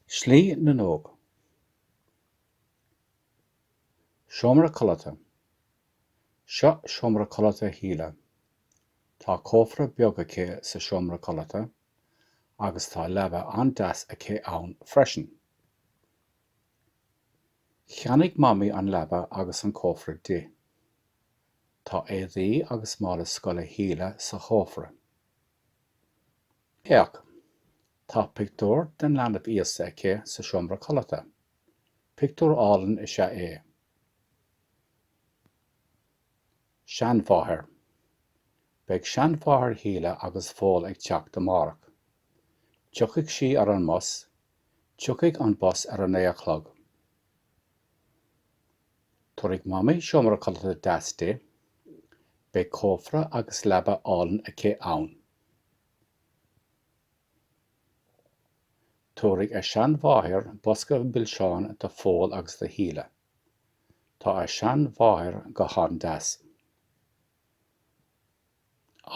Slí na nÓg. Seomra codlata. Seo seomra codlata Shíle. Tá cófra beag aici sa seomra codlata agus tá leaba an-deas aici ann freisin. Cheannaigh Mamaí an leaba agus an cófra di. Tá éadaí agus mála scoile Shíle sa chófra. Féach! Tá pictiúr den Leanbh Íosa aici sa seomra codlata. Pictiúr álainn is ea é. Seanmháthair. Beidh seanmháthair Shíle agus Phóil ag teacht amárach. Tiocfaidh sí ar an mbus. Tiocfaidh an bus ar a naoi a chlog. Tabharfaidh Mamaí seomra codlata deas di. Beidh cófra agus leaba álainn aici ann. Tabharfaidh a seanmháthair bosca milseán do Phól agus do Shíle. Tá a seanmháthair go han-deas.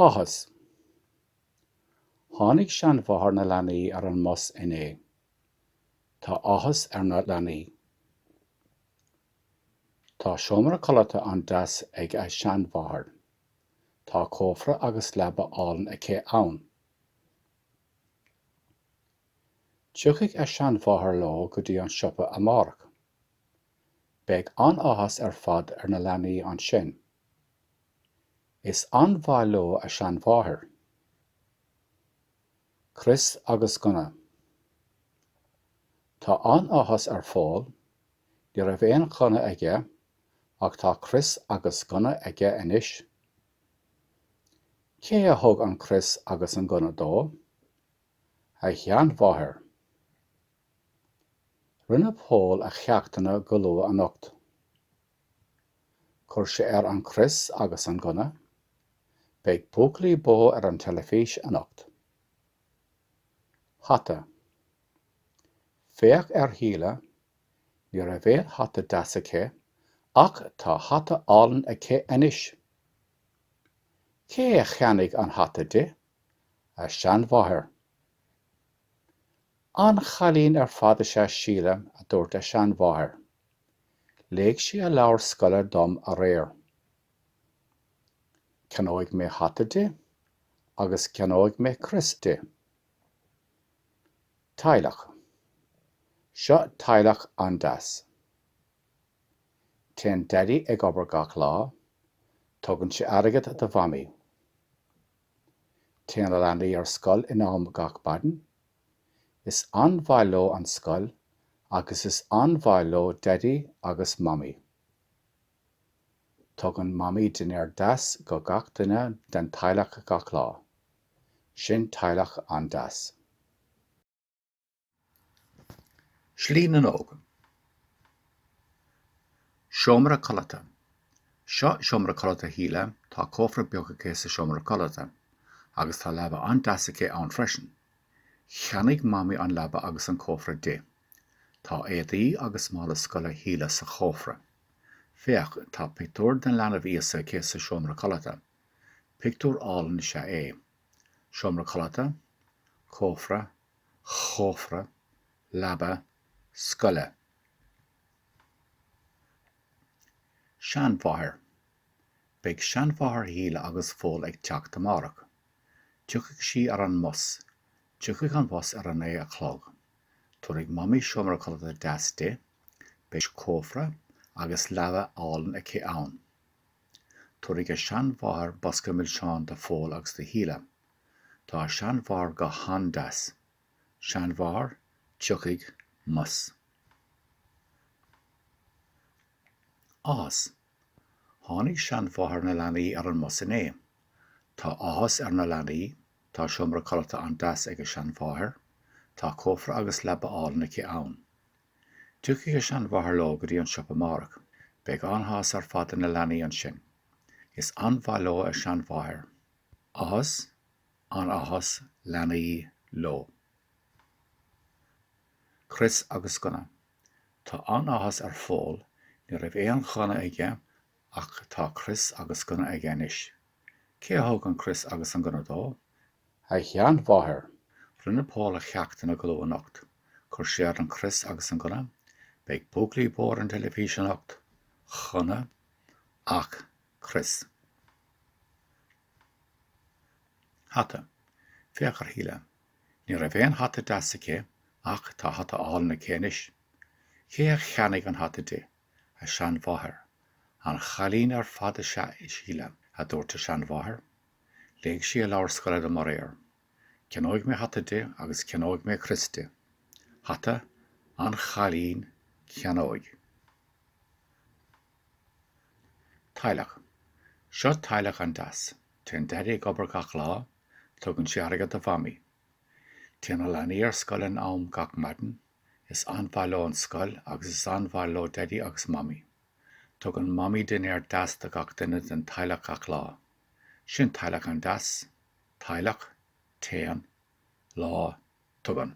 Áthas. Tháinig seanmháthair na leanaí ar an mbus inné. Tá áthas ar na leanaí. Tá seomra codlata an-deas ag a seanmháthair. Tá cófra agus leaba álainn aici ann. Tiocfaidh a seanmháthair leo go dtí an siopa amárach. Beidh an-áthas ar fad ar na leanaí ansin. Is an-mhaith leo a seanmháthair. Crios agus gunna. Tá an-áthas ar Phól, ní raibh aon ghunna aige ach tá crios agus gunna aige anois. Cé a thug an crios agus an gunna dó? A sheanmháthair. Rinne Pól a cheachtanna go luath anocht. Chuir sé air an crios agus an gunna. Beidh buachaillí bó ar an teilifís anocht. Hata. Féach ar Shíle, ní raibh aon hata deas aici ach tá hata álainn aici anois. Cé a cheannaigh an hata di? A seanmháthair. An-chailín ar fad is ea Síle, a dúirt a seanmháthair. Léigh sí a leabhar scoile dom aréir. Ceannóidh mé hata di agus ceannóidh mé crios di. Teaghlach. Seo teaghlach an-deas. Téann Daidí ag obair gach lá. Tugann sé airgead do Mhamaí. Téann na leanaí ar scoil in am gach maidin. Is an-mhaith leo an scoil agus is an-mhaith leo Daidí agus Mamaí. Tugann Mamaí dinnéar deas go gach duine den teaghlach gach lá. Sin teaghlach an-deas. Slí na nÓg. Seomra Codlata Seo seomra codlata Shíle, tá cófra beag aici sa seomra codlata, agus tá leaba an-deas aici ann freisin. Cheannaigh Mamaí an leaba agus an cófra di. Tá éadaí agus mála scoile Shíle sa chófra. Féach, tá pictiúr den leanbh Íosa aici sa seomra codlata. Pictiúr álainn is ea é. Seomra codlata, cófra, chófra, leaba, scoile. Seanmháthair Beidh seanmháthair Shíle agus Phóil ag teacht amárach. Tiocfaidh sí ar an mbus. Tiocfaidh an bus ar a naoi a chlog. Tabharfaidh Mamaí seomra codlata deas di. Beidh cófra agus leaba álainn aici ann. Tabharfaidh a seanmháthair bosca milseán do Phól agus do Shíle. Tá a seanmháthair go han-deas. Seanmháthair, Tiocfaidh mbus. Áthas. Tháinig seanmháthair na leanaí ar an mbus inné. Tá áthas ar na leanaí, tá seomra codlata an-deas ag a seanmháthair, tá cófra agus leaba álainn aici ann. Tiocfaidh a seanmháthair leo go dtí an siopa amárach. Beidh an-áthas ar fad ar na leanaí ansin. Is an-mhaith leo a seanmháthair. Áthas, an-áthas, leanaí, leo. Crios agus Gunna. Tá an-áthas ar Phól, ní raibh aon ghunna aige ach tá crios agus gunna aige anois. Cé a thug an crios agus an gunna dó? A sheanmháthair! Rinne Pól a cheachtanna go luath anocht. Chuir sé air an crios agus an gunna. Beidh buachaillí bó ar an teilifís anocht. Ghunna. Ach crios. Hata. Féach ar Shíle. Ní raibh aon hata deas aici ach tá hata álainn aici anois. Cé a cheannaigh an hata di? A seanmháthair. An-chailín ar fad is ea í, Síle, a dúirt a seanmháthair. Léigh sí a leabhar scoile dom aréir. Ceannóidh mé hata di agus ceannóidh mé crios di. Hata an-chailín ceannóidh. Teaghlach Seo teaghlach an-deas. Téann Daidí ag obair gach lá. Tugann sé airgead do Mhamaí. Téann a leanaí ar scoil in am gach maidin. Is an-mhaith leo an scoil agus is an-mhaith leo Daidí agus Mamaí. Tugann Mamaí dinnéar deas do gach duine den teaghlach gach lá. Sin teaghlach an-deas. Teaghlach. Téann. Lá. Tugann.